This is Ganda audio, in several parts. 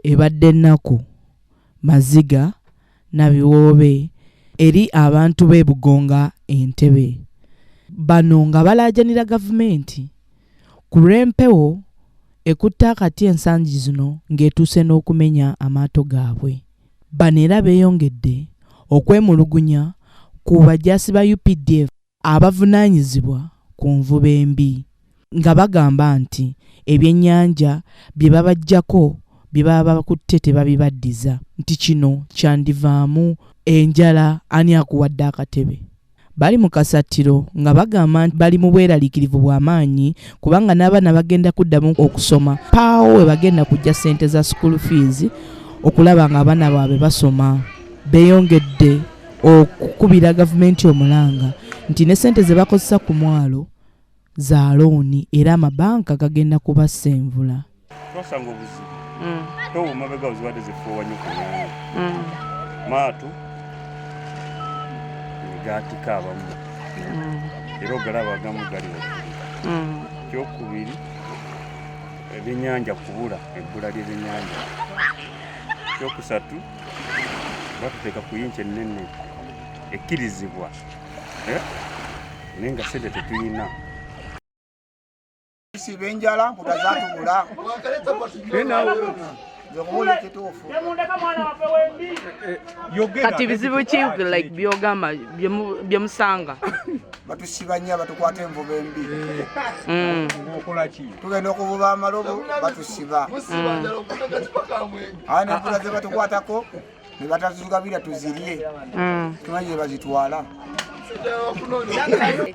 ebadde ennaku maziga na biwoobe eri abantu b'e Bugonga Entebbe. Bano nga balaajanira gavumenti ku lw'empewo ekutte akati ensangi zino ng'etuuse n'okumenya amaato gaabwe. Bano era beeyongedde okwemulugunya ku bajaasi ba updf. abavunaanyizibwa ku nvuba embi nga bagamba nti ebyennyanja bye babaggyako bye baba bakutte tebabibaddiza nti kino kyandivaamu enjala ani akuwadde akatebe bali mu kasattiro nga bagamba nti bali mu bweraliikirivu bwa maanyi kubanga n'abaana bagenda kuddamu okusoma paawo we bagenda kujja ssente za school fees okulaba ng'abaana baabwe basoma beeyongedde okukubira gavumenti omulanga nti ne sente ze bakozesa ku mwalo za looni era amabanka gagenda kubassa envula twasanga obuzibu mm. towo mabega ozibadde zefuuwanyo ku nyanya mm. maatu negatika abamu mm. era ogalaba agamu gali kyokubiri ebyenyanja kubula ebbula lyebyenyanja kyokusatu batuteeka ku yinki ennene ekkirizibwa eh? naye nga sente tetuyina siba enjala mputa zatubula kati bizibu ki like byogamba byemusanga batusiba nnyo batukwata envuba embi mm. tugenda okuvuba amalobo batusiba mm. awo nempula zebatukwatako nebatatuzigabira tuzirye mm. tumanyi nebazitwala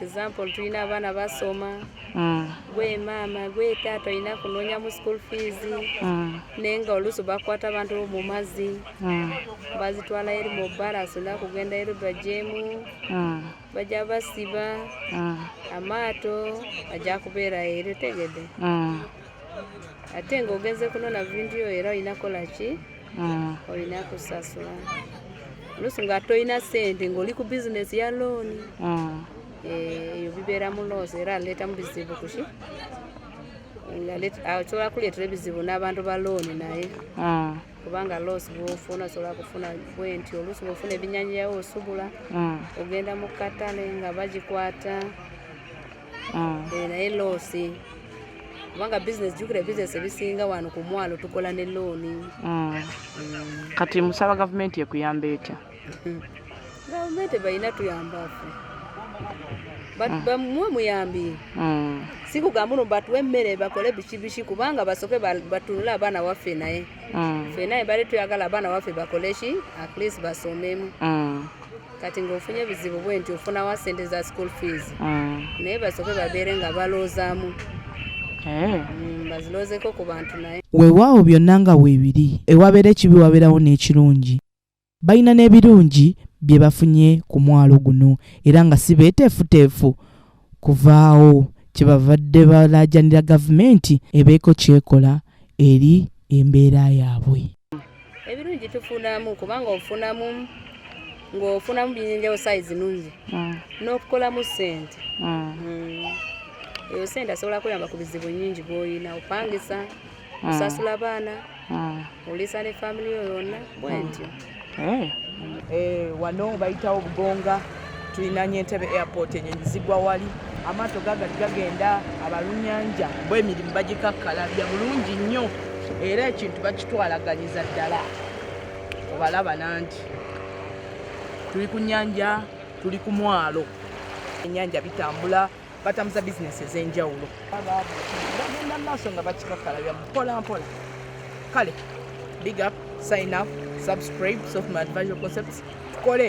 example tulina abaana basoma mm. gwe maama gwe taata olina kunonya mu school fees mm. naye nga oluusi bakwata abantu mu mazzi mm. bazitwala eri mu bbala sina kugenda eri bajemu bajja basiba amaato ajja kubeera eri tegede ate ng'ogenze kunona vidiyo era olina kola ki mm. olina kusasula oluusi nga tolina sente ng'oli ku bizinesi ya looni mm. eh, eyo bibeera mu loosi era aleeta mu bizibu kuki osobola kuleetera ebizibu n'abantu ba looni naye mm. kubanga loosi bwofuna osobola kufuna bwenti oluusi bwofuna ebinyanyawo osubula ogenda mu katale nga bagikwata ah. eh, naye loosi kubanga bizinesi jukira bizinesi ebisinga wano ku mwalo tukola ne looni ah. mm. kati musaba gavumenti ekuyamba etya gavumenti balina tuyambafe ah. mwe muyambi mm. sikugamba uno batuwe emmere bakole biki biki kubanga basoke batunule abaana waffe naye mm. ffe naye bali tuyagala abaana waffe bakole ki at least basomemu kati ng'ofunye ebizibu bwe nti ofunawo sente za school fees mm. naye basoke babeere nga baloozaamu eh. mm, baziloozeko ku bantu naye weewaawo byonna nga weebiri ewabeera ekibi wabeerawo n'ekirungi balina n'ebirungi bye bafunye ku mwalo guno era nga si beeteefuteefu kuvaawo kyebavadde balaajanira gavumenti ebeeko kyekola eri embeera yaabwe ebirungi tufunamu kubanga ofunamu ng'ofunamu byenjawo sayizi nungi mm. n'okukolamu sente mm. mm. eyo sente asobola kuyamba ku bizibu nyingi bwoyina opangisa mm. osasula abaana mm. olisa ne family yo yonna bwentyo mm. eh. eh, wano bayitawo bugonga tulinanye entebe airport enyenyi zigwa wali amaato gagati gagenda abalunyanja bwemirimu bagikakkalabya bulungi nnyo era ekintu bakitwalaganyiza ddala obalaba nangi tuli ku nyanja tuli ku mwalo enyanja bitambula batambuza bizinesi ez'enjawulo bagenda mu maaso nga bakikakkalabya mpola mpola kale big up sign up subscribe softman advisory concepts tukole